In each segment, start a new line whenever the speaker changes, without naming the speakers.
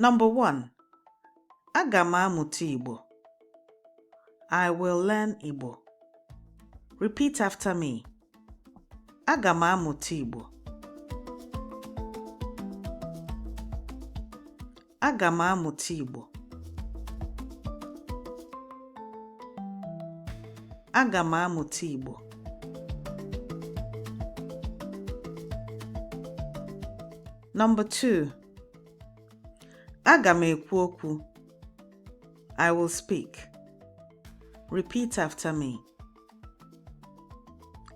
Number one, aga m amụta Igbo. I will learn Igbo. Repeat after me. Aga m amụta Igbo. Aga m amụta Igbo. Aga m amụta Igbo. Number 2 Aga m ekwu okwu I will speak. Repeat after me.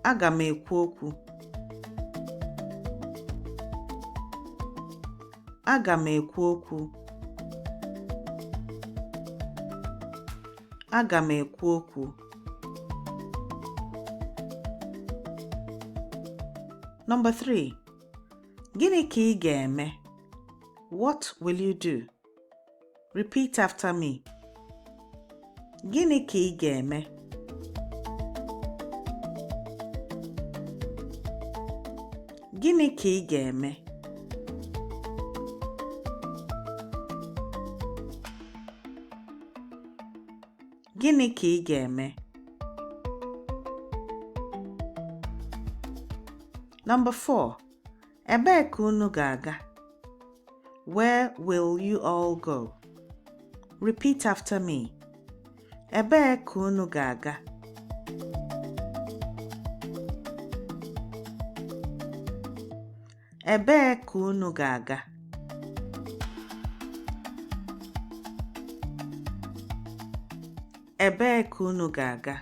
Aga m ekwu okwu Aga m ekwu okwu Aga m ekwu okwu Number 3 Gịnị ka ị ga-eme? What will you do? Repeat after me. Gịnị ka ị ga-eme? Gịnị ka ị ga-eme? Gịnị ka ị ga-eme? Number 4. Ebee ka unu ga-aga? Where will you all go? Repeat after me. Ebee ka unu ga-aga? Ebee ka unu ga-aga? Ebee ka unu ga-aga?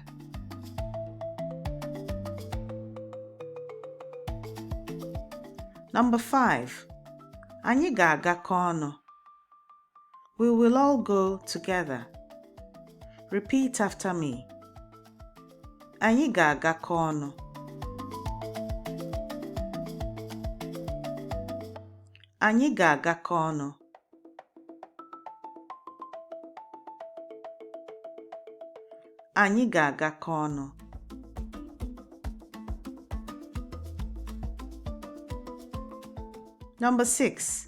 Number 5. Anyị ga-agakọ ọnụ. We will all go together. Repeat after me. Anyị ga-agakọ ọnụ. Anyị ga-agakọ ọnụ. Anyị ga-agakọ ọnụ. Number six.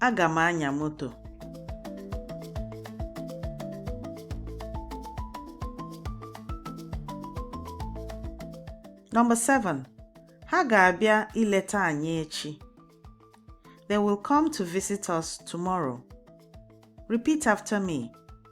Aga m anya moto. Number 7. Ha ga-abịa ileta anyị echi. They will come to visit us tomorrow. Repeat after me.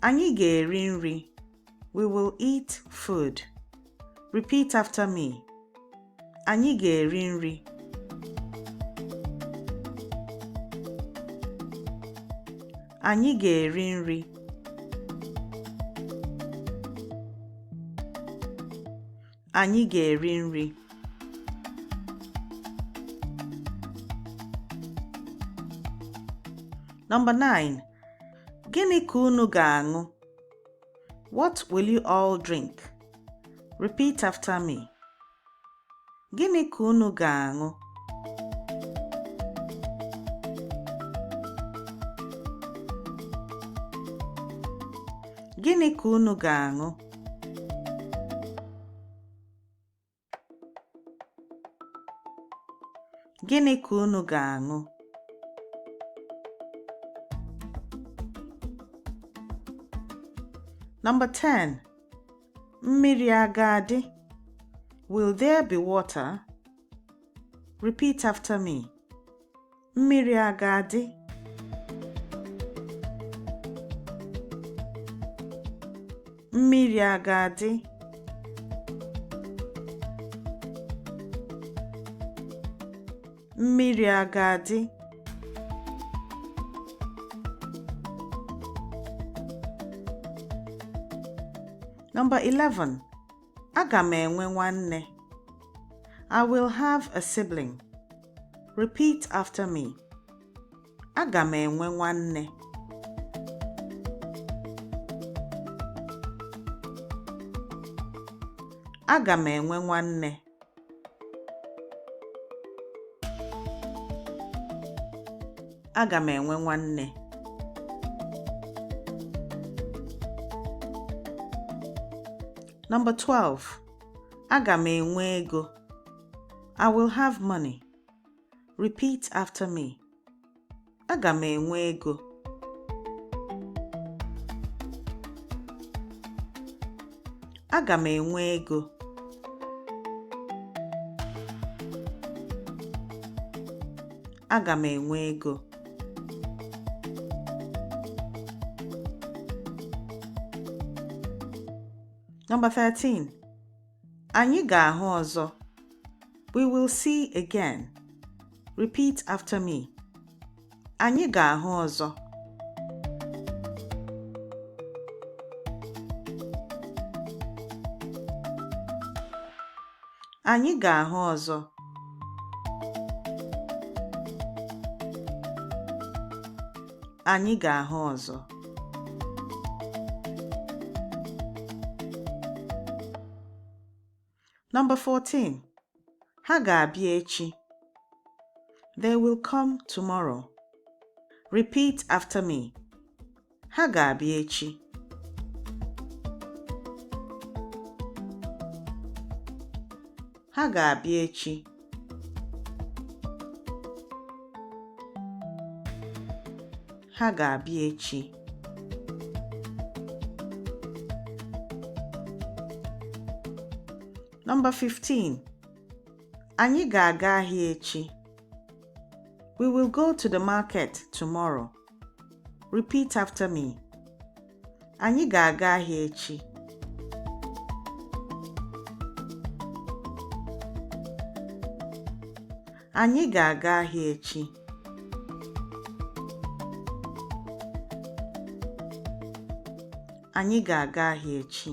Anyị ga-eri nri. We will eat food. Repeat after me. Anyị ga-eri nri. Anyị ga-eri nri. Anyị ga-eri nri. Number 9. Gịnị ka unu ga-aṅụ? What will you all drink? Repeat after me. Gịnị ka unu ga-aṅụ? Gịnị ka unu ga-aṅụ? Gịnị ka unu ga-aṅụ? Number 10. Mmiri a ga-adị? Will there be water? Repeat after me. Mmiri a ga-adị? Mmiri a ga-adị? Mmiri a ga-adị? Number 11. Aga m enwe nwanne. I will have a sibling. Repeat after me. Aga m enwe nwanne. Aga m enwe nwanne. aga m enwe nwanne Number 12 aga m enwe ego I will have money. Repeat after me. Aga m enwe ego. Aga m enwe ego. Aga m enwe ego. Number 13. Anyị ga-ahụ ọzọ. We will see again. Repeat after me. Anyị ga-ahụ ọzọ. Anyị ga-ahụ ọzọ. Anyị ga-ahụ ọzọ. Number 14. Ha ga-abịa echi. They will come tomorrow. Repeat after me. Ha ga-abịa echi. Ha ga-abịa echi. Ha ga-abịa echi. Number 15. Anyị ga-aga ahịa echi. We will go to the market tomorrow. Repeat after me. Anyị ga-aga ahịa echi. Anyị ga-aga ahịa echi. Anyị ga-aga ahịa echi.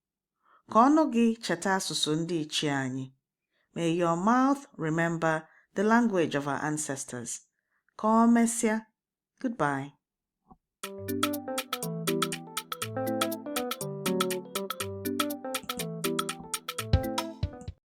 Ka ọnụ gị cheta asụsụ ndị ichie anyị. May your mouth remember the language of our ancestors. Ka ọ mesịa. Goodbye.